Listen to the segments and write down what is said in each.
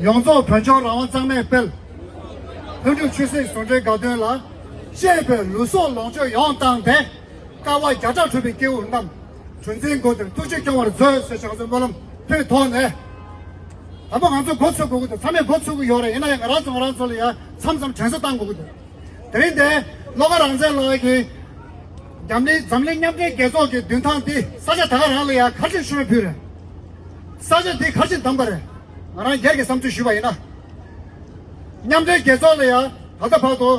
ཡོངས་རྫོགས་བོད་ལྗོངས་རང་དབང་གཙང་མས་སྤེལ། ལྷུན་གྲུབ་ཆོས་སྲིད་ཟུང་འབྲེལ་དགའ་སྟོན་ལ། གཅེས་པའི་ལུས་སྲོག་ལོངས་སྤྱོད་ཡོངས་བཏང་སྟེ། དཀའ་བ་བརྒྱ་ཕྲག་ཁྲོས་པའི་སྐྱེ་བོ་རྣམས། གྲུ་འཛིན་སྒོ་དེར་ཐུགས་རྗེས་སྐྱོང་བར་མཛོད་ཟེར་བྱང་སེམས་སྨོན་ལམ་ཕུལ་ཐོག་ནས། ད་ཕོ་ང་ཚོ་འགོ་ཚུགས་དགོས་ཀྱི་འདུག་ཚང་མས་འགོ་ཚུགས་ཀྱི་ཡོད་རེད་ཡིན་ན་ཡང་ང་རང་ཚོ་ང་རང་ཚོ་ལ་ཡང་མཚམས་མཚམས་དྲན་གསོ་བཏང་དགོས་ཀྱི་འདུག་དེ་རིང་འདི་བློ་དགའ་རང་བཙན་ལགས་ཀྱིས། འཛམ་གླིང་མཉམ་འབྲེལ་རྒྱལ་ཚོགས་ཀྱི་མདུན་ཐང་འདི་ས་ཆ་ད་ག་རང་ལ་ཡང་ཁ་ཆེ་ཤོས་ཕུལ་རེད། ས་ཆ་འདི་གར་ཕྱིན་དམ་པར་ང་རང་སྒེར་གྱི་བསམ་ཚུལ་ཞུས་པ་ཡིན་ན། མཉམ་འབྲེལ་རྒྱལ་ཚོགས་ལ་ཡང་ད་ལྟ་བར་དུ་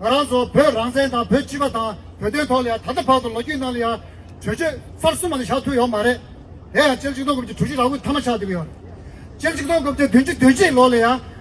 ང་རང་ཚོ་བོད་རང་བཙན་དང་བོད་སྤྱི་པ་དང་བོད་དོན་ཐོག་ལ་ཡང་ད་ལྟ་བར་དུ་ལོ་རྒྱུས་ནང་ལ་ཡང་གྲོས་ཆོད་ཚར་གསུམ་མ་ལས་བཞག་ཐུབ་ཡོད་མ་རེད། དེ་ཡང་སྤྱིར་སྤྱི་མཐུན་སྐོར་གྱི་གྲོས་གཞི་རགས་བསྐུལ་མཐའ་མ་ཆགས་ཐུབ་ཡོད། སྤྱིར་སྤྱི་མཐུན་སྐོར་བརྒྱད་བདུན་བཅུ་བདུན་བཅུའི་ལོ་ལ་ཡང།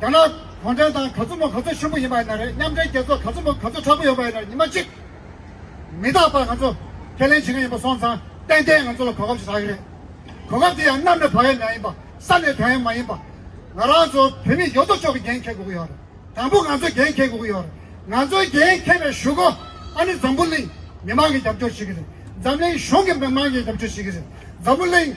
རྒྱ་ནག་གུང་ཁྲན་ཏང་ག་ཚོད་མོ་ག་ཚོད་ཤུགས་པོ་ཡིན་པ་ཡིན་ན་རེད་མཉམ་འབྲེལ་རྒྱལ་ཚོགས་ག་ཚོད་མོ་ག་ཚོད་དྲག་པོ་ཡོད་པ་ཡིན་ན་རེད་ཉི་མ་གཅིག་མི་རྟག་པར་ང་ཚོ་ཁས་ལེན་བྱེད་མཁན་ཡིན་པ་སོང་ཙང་ཏན་ཏན་ང་ཚོ་ལ་གོ་སྐབས་ཤིག་ཟ་གི་རེད། གོ་སྐབས་དེ་ཡང་གནམ་ནས་བབས་ཡས་མ་ཡིན་པ་ས་ནས་དོན་ཡས་མ་ཡིན་པ། ང་རང་ཚོ་བོད་མི་ཡོད་དོ་ཅོག་གི་འགན་འཁྱེར་དགོས་ཀྱི་ཡོད་རེད་དང་པོ་ང་ཚོས་འགན་འཁྱེར་དགོས་ཀྱི་ཡོད་རེད་ང་ཚོའི་འགན་འཁྱེར་བའི་ཞུ་སྒོ་ཨ་ནི་འཛམ་བུ་གླིང་མི་མང་གིས་རྒྱབ་སྐྱོར་བྱེད་ཀྱི་རེད་འཛམ་གླིང་གཞུང་གིས་མི་མང་གིས་རྒྱབ་སྐྱོར་བྱེད་ཀྱི་རེད་འཛམ་བུ་གླིང།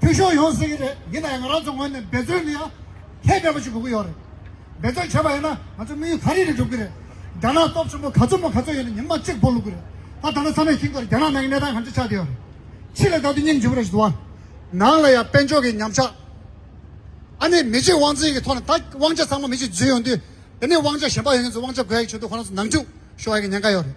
འཐུས་ཤོར་ཡོང་སྲིད་ཀྱི་རེད་ཡིན་ནའང་ང་རང་ཚོ་ངོས་ནས་འབད་བརྩོན་ནི་ཡང་ཧེ་འབད་པོ་ཞིག་དགོས་ཀྱི་ཡོད་རེད། འབད་བརྩོན་བྱས་པ་ཡིན་ན་ང་ཚོའི་དམིགས་ཡུལ་ཚར་རིལ་རིལ་འགྲུབ་ཀྱི་རེད། རྒྱ་ནག་སྟོབས་ཆེན་པོ་ག་ཚོད་མོ་ག་ཚོད་ཡོད་ན་ཉིན་མ་གཅིག་སྤོ་ལུགས་ཀྱི་རེད། ད་ད་ནི་ཚང་མས་ཁྱིམ་གར་རྒྱ་ནག་ནང་གི་གནས་སྟངས་གང་ཅི་ཆགས་བསྡད་ཡོད་རེད། ཕྱི་ལ་བལྟ་དུས་སྙིང་རྗེ་བོ་རེ་ཞིག་འདུག་ཨ། ནང་ལ་ཡང་དཔལ་འབྱོར་གྱི་ཉམས་ཆག་ཨ་ནི་མི་གཅིག་དབང་འཛིན་གྱི་ཐོག་ནས་ད་དབང་ཆ་ཚང་མ་མི་གཅིག་འཛུལ་ཡོང་དུས་དེ་ནས་དབང་ཆ་གཞན་པ་ཡོང་མཁན་ཚོ་དབང་ཆ་དགོས་ཡག་གི་ཆེད་དུ་ཁོ་རང་ཚོ་ནང་འཁྲུག་ཤོར་ཡག་གི་ཉེན་ཁ་ཡོད་རེད།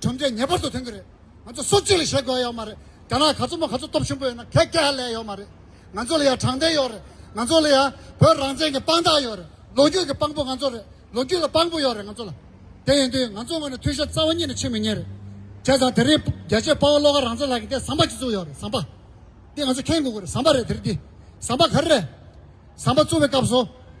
ཁྲོམ་རའི་ཉེས་པ་བཟོ་ཐེངས་གི་རེད། ང་ཚོ་སོ་གཅིག་ལ་བྱེད་དགོས་ཡོད་མ་རེད། རྒྱ་ནག་ག་ཚོད་མོ་ག་ཚོད་སྟོབས་ཆེན་པོ་ཡོད་ན་གད་སྐད་ཧ་ལས་ཡོད་མ་རེད། ང་ཚོ་ལ་ཡང་དྲང་བདེན་ཡོད་རེད། ང་ཚོ་ལ་ཡང་བོད་རང་བཙན་གྱི་དཔང་རྟགས་ཡོད་རེད། ལོ་རྒྱུས་ཀྱི་དཔང་པོ་ང་ཚོ་རེད། ལོ་རྒྱུས་ལ་དཔང་པོ་ཡོད་རེད་ང་ཚོ་ལ། དེ་ཡིན་དུས་ང་ཚོ་ངོས་ནས་མཐུན་ཤོར་རྩ་བ་ཉིད་ནས་ཕྱིན་མི་ཉན་རེད། བྱས་ཙང་དེ་རིང་རྒྱལ་གཅེས་དཔའ་བོ་བློ་དགའ་རང་བཙན་ལགས་ཀྱི་ཐད་ཟམ་པ་གཅིག་བཙུགས་ཡོད་རེད་ཟམ་པ། འདི་ང་ཚོ་མཁྱེན་དགོས་གི་རེད་ཟམ་པ་རེད་དེ་རིང་འདི། ཟམ་པ་ག་རེ་རེད། ཟམ་པ་བཙུགས་པའི་སྐབས་སུ།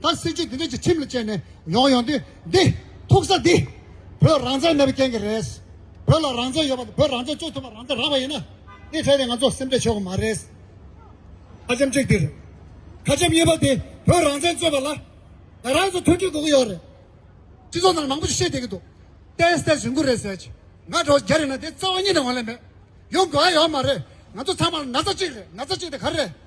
ད་སྲིད་ཇུས་འདི་འདྲ་ཞིག་ཁྲིམས་ལ་བཅས་ནས་ཡོང་ཡོང་དུས་འདི། ཐུག་ས་འདི། བོད་རང་བཙན་མེད་པའི་རྐྱེན་གྱིས་རེད། བོད་ལ་རང་བཙན་ཡོད་པ་དང་བོད་རང་བཙན་བཅོས་ཐུབ་པ་རང་བཙན་རག་པ་ཡིན་ན། འདི་འཕྲལ་དུ་ང་ཚོ་སེམས་ཁྲལ་བྱེད་དགོས་མ་རེད། ཁ་ཆེམས་གཅིག་འདིར། ཁ་ཆེམས་གཉིས་པ་འདི་བོད་རང་བཙན་བཅོས་པ་ལ། ང་རང་ཚོ་མཐུན་འགྲིག་དགོས་ཀྱི་ཡོད་རེད། སྤྱི་ཚོགས་ནང་མང་པོ་ཞིག་བཤད་བསྡད་ཀྱི་འདུག་བསྟན་བསྟན་བཞིན་གུ་རེ་ཟེར་གྱི། ང་གྲོ་རྒྱ་རིགས་ན་དེ་རྩ་བ་གཉིས་ནས་ཡོང་ལེ་མེད། ཡོང་དགོས་ཨ་ཡོད་མ་རེད། ང་ཚོ་ཚང་མ་ན་ཚ་གཅིག་རེད་ན་ཚ་གཅིག་དེ་ག་རེ་རེད།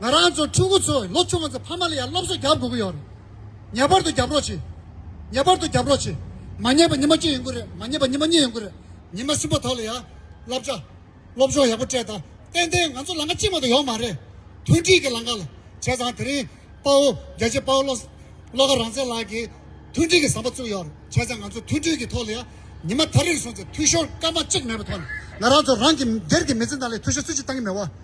ང་རང་ཚོ་ཕྲུ་གུ་ཚོས་ལོ་ཆུང་བ་ཚོ་ཕ་མ་ལ་ཡང་སློབ་གསོ་བརྒྱབ་དགོས་ཀྱི་ཡོད་རེད། ངེས་པར་དུ་བརྒྱབ་རོགས་བྱོས། ངེས་པར་དུ་བརྒྱབ་རོགས་བྱོས། མ་ཉེས་པ་ཉི་མ་བཅུ་ཡོང་གི་རེད་མ་ཉེས་པ་ཉི་མ་གཉིས་ཡོང་གི་རེད། ཉི་མ་གསུམ་པ་ཐོག་ལ་ཡང་བསླབ་བྱ། སློབ་སྦྱོང་ཡག་པོ་སྤྲད་དང་ཏན་ཏན་ང་ཚོ་ལང་ཀ་གཅིག་མ་གཏོགས་ཡོད་མ་རེད། མཐུན་སྒྲིལ་གྱི་ལང་ཀ་ལ་བྱས་ཙང་དེ་རིང་དཔའ་བོ་རྒྱལ་གཅེས་དཔའ་བོ་བློ་དགའ་རང་བཙན་ལགས་ཀྱིས་མཐུན་སྒྲིལ་གྱི་ཟམ་པ་བཙུགས་ཡོད་རེད་བྱས་ཙང་ང་ཚོ་མཐུན་སྒྲིལ་གྱི་ཐོག་ལ་ཡང་ཉི་མ་ཐར་རེར་སོང་ཙང་འཐུས་ཤོར་སྐར་མ་གཅིག་མེད་པའི་ཐོག་ནས་ང་རང་ཚོ་རང་གི་སྒེར་གྱི་མི་ཚེ་ནང་ལ་འཐུས་ཤོར་སུས་ཀྱིས་བཏང་གི་མེད་བ།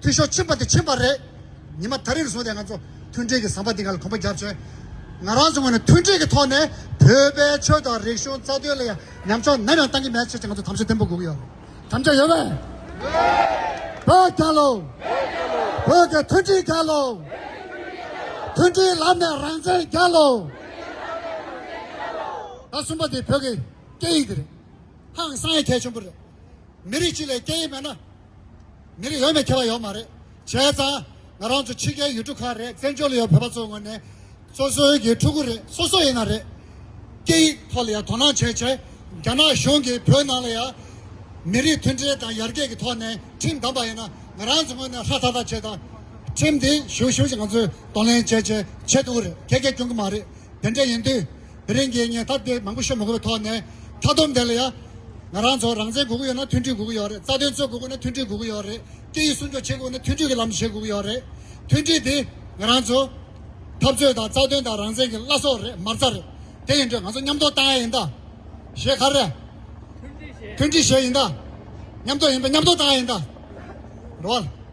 འཐུས་ཤོར་ཕྱིན་པ་དེ་ཕྱིན་པ་རེད། ཉི་མ་ད་རེར་བཟུང་སྟེ་ང་ཚོ་མཐུན་སྒྲིལ་གྱི་ཟམ་པ་འདི་ག་ལ་གོམ་པ་རྒྱབ་བྱས། ང་རང་ཚོའི་ངོས་ནས་མཐུན་སྒྲིལ་གྱི་ཐོག་ནས་བོད་པའི་ཆོས་དང་རིག་གཞུང་རྩ་དོན་ལ་ཡང་ཉམས་ཆུང་ནམ་ཡང་གཏང་གི་མེད་ཟེར་ཏེ་ང་ཚོ་དམ་བཅའ་བརྟན་པོ་བསྒུགས་ཡོད། དམ་བཅའ་ཡོད་རེད། བོད་རྒྱལ་ལོ། བོད་ཀྱི་མཐུན་སྒྲིལ་རྒྱལ་ལོ། མཐུན་སྒྲིལ་ལམ་ནས་རང་བཙན་རྒྱལ་ལོ། ད་གསུམ་པ་འདི་བོད་ཀྱི་སྐད་ཡིག་དེ་རེད། ཧང་སང་ཡི་གལ་ཆེན་པོ་རེད། མི་རིགས་གཅིག་ལས་སྐད་ཡིག་མེད་ན། མི་རིགས་ཡོད་མེད་ཁྱད་པར་ཡོད་མ་རེད། བྱས་ཙང་ང་རང་ཚོ་ཕྱི་རྒྱལ་ཡུལ་གྲུ་ཁག་རེད་བཙན་བྱོལ་ལ་ཡོད་བོད་པ་ཚོའི་ངོས་ནས། སོ་སོའི་ཡུལ་གྲུ་གུ་རེ་སོ་སོ་ཡིན་ན་རེད། སྐད་ཡིག་ཐོག་ལ་ཡང་དོ་སྣང་བྱས་ཆེད་རྒྱ་ནག་གཞུང་གིས་བོད་ནང་ལ་ཡང། མི་རིགས་མཐུན་སྒྲིལ་དང་ཡར་རྒྱས་ཀྱི་ཐོག་ནས་ཁྲིམས་བསྡམས་པ་ཡིན་ན་ང་རང་ཚོའི་ངོས་ནས་ཧ་ཐག་ཐག་བྱས་ཙང། ཁྲིམས་དེ་ཞུ་ཞུ་བཞིན་ང་ཚོས་གདོང་ལེན་བྱས་བྱས་ཆེད་དུ་གུ་རེ་གད་གད་སྐྱོན་གྱི་མ་རེད། དེ་འདྲ་ཡིན་དུས་དེ་རིང་གི་ངས་ཐ་དད་མང་པོ་ཤོད་མི་དགོས་པའི་ཐོག་ནས་མཐའ་བསྡོམས་དེ་ལ་ཡང། ང་རང་ཚོ་རང་བཙན་དགོས་ཀྱི་ཡོད་ན་མཐུན་སྒྲིལ་དགོས་ཀྱི་ཡོད་རེད་རྩ་དོན་རྩོད་དགོས་ཀྱི་ཡོད་ན་མཐུན་སྒྲིལ་དགོས་ཀྱི་ཡོད་རེད་སྐད་ཡིག་སྲུང་སྐྱོབ་བྱེད་དགོས་ཀྱི་ཡོད་ན་མཐུན་སྒྲིལ་གྱི་ལམ་དུ་བྱེད་དགོས་ཀྱི་ཡོད་རེད། མཐུན་སྒྲིལ་འདི་ང་རང་ཚོ། འཐབ་རྩོད་དང་རྩ་དོན་དང་རང་བཙན་གྱི་བླ་སྲོག་རེད་མ་རྩ་རེད། དེ་ཡིན་དུས་ང་ཚོ་མཉམ་གཏོགས་བཏང་ཡ་ཡིན་ད། ཞེས་ཁ་རེ། མཐུན་སྒྲིལ་ཞེས་ཡིན་ད། མཉམ་གཏོགས་ཡིན་པས་མཉམ་གཏོགས་བཏང་ཡ་ཡིན་ད། རེད།